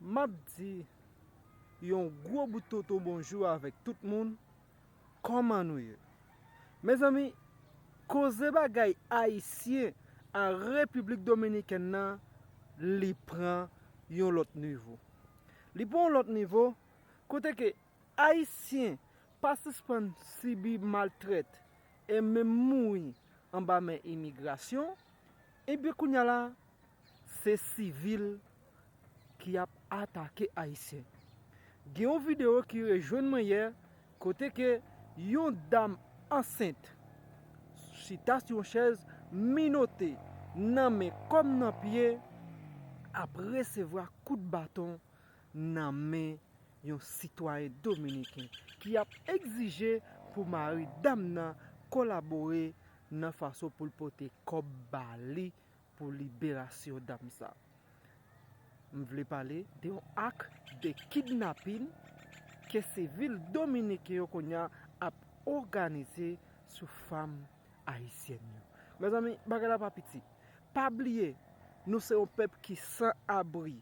Map di yon gwo bout toto bonjou avèk tout moun, kòman nou ye? Mezanmi, koze bagay Ayisyen a Repiblik Dominikèn nan li pran yon lòt nivo. Li pran yon lòt nivo, kote ke Ayisyen pa sispann sibi maltrèt e menm mouri anba men imigrasyon, ebyen kounya la Se sivil ki ap atake ayisyen. Gen yon video ki rejwenn mwen yè kote ke yon dam ansent chita sou yon chèz minote nan men kòm nan pye ap resevwa kout baton nan men yon sitwayen dominiken ki ap egzije pou mari dam nan kolabore nan fason pou l pote kòb ba li Pou liberasyon dam sa. M vle pale de yon ak de kidnapin ke sivil dominiken yo kounya ap oganize sou fam ayisyèn yo. Mezanmi bagay la pa piti. Pa bliye nou se yon pèp ki san abri.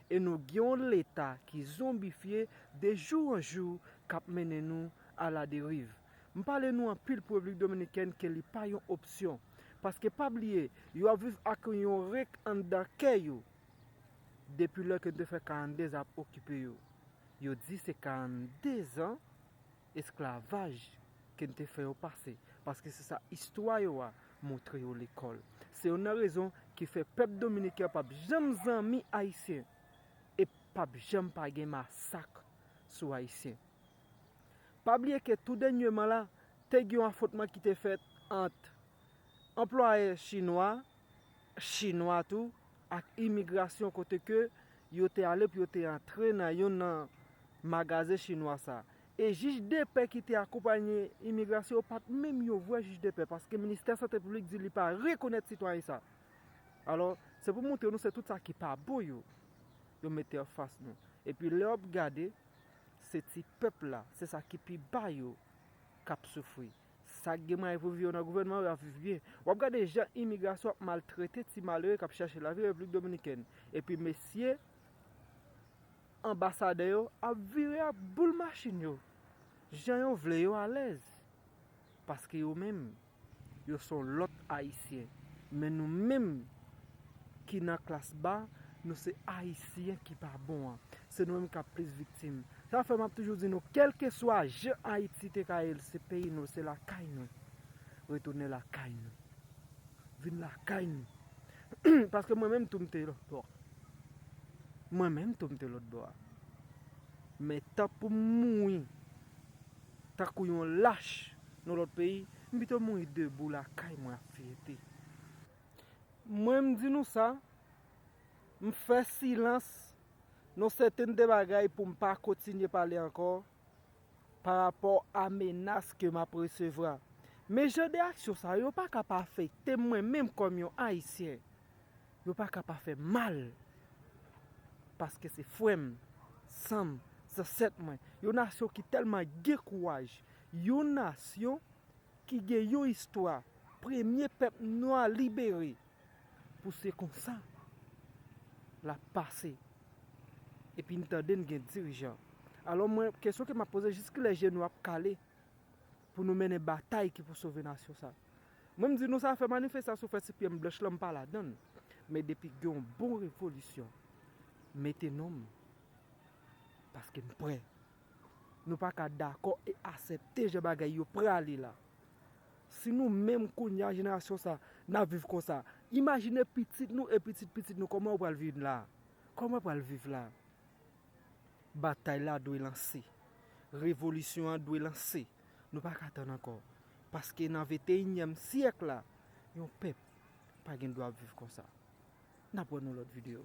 E nou gen yon leta ki zonbifye de jou an jou kap mennen nou a la deriv. M pale nou anpil pou Repiblik Dominikèn ke li pa yon opsyon. Paske pa bliye, yo ap viv ak yon rink anndan kè yo depi lè ke nou te fè 42 zan ap okipe yo. Yo di se 42 zan Esklavaj ke n te fè yo pase, paske se sa istwa yo a montre yo lekòl. Se youn nan rezon ki fè pèp dominiken an p ap janm zanmi ayisyen e p ap janm pa gen masak sou ayisyen. Pa bliye ke tou dènyeman la, te gen youn afwontman ki te fèt ant anplwayè chinwa, chinwa tou, ak imigrasyon kote ke yo te ale pou yo te antre nan youn nan magazen chinwa sa. E jij depè ki te akonpanye imigrasyon yo pat menm yon vrè jij depè paske ministè sante piblik di li pa rekonèt sitwayen sa. Alò, se pou moutre nou se tout sa ki pa bon yo, yo mete an fas nou. Epi lè wap gade, se ti pèp la, se sa ki pi ba yo kap soufri. Sak gen mwayen pou viv yo nan gouvènman yo ap viv byen. Wap gade jan imigrasyon ap maltrete ti malere kap chache lavi Repiblik Dominikèn. Epi mesye anbasadè yo ap vire ap boule machin yo jan yo vle yo alèz. Paske yo menm yo son lòt ayisyen. Men nou menm ki nan klas ba nou se ayisyen ki pa bon an. Se nou menm kap plis viktim. Sa fè map toujou di nou kelkeswa jan Ayiti te ka ye l se peyi nou, se lakay nou. Retounen lakay nou. Vin lakay nou. Paske mwen menm tou m te lotbo a. Mwen menm tou m te lotbo a. Men tan pou m mouri tankou yon lach nan lot peyi, m pito mouri debou lakay mwen ak fyète. Mwen m di nou sa, m fè silans. Non sèten de bagay pou m pa kontinye pale ankò pa rapò a menas ke m ap resevwa. Men jan de aksyon sa yo pa ka pa afekte m mwen menm kòm yon Ayisyen. Yo pa ka pa fè m mal. Paske se frè m, san m, zansèt mwen. Yon nasyon ki tèlman gen kouraj. Yon nasyon ki gen yon istwa. Premye pèp nwa libere. Pou se konsa lap pase. Epi n tande n gen dirijan. Alò mwen, kesyon ke map poze, jiskilè je nou ap kale pou nou mennen batay ki pou sove nasyon sa? Mwen m di nou sa fè manifestasyon fè ti pyem blanch lan m pa ladan l. Men depi gen yon bon revolisyon, mete non m. Paske m prè. Nou pa ka dakò e asepte jan bagay yo prale la. Si nou menm kounye a jenerasyon sa n ap viv konsa, imajine pitit nou e pitit pitit nou kòman yo pral vin la a? Kòman yo pral viv la a? Batay la dwe lanse. Revolisyon an dwe lanse. Nou pa ka tann ankò. Paske nan venteyinyèm syèk la, yon pèp pa gen dwa ap viv konsa. N ap wè nan lòt videyo.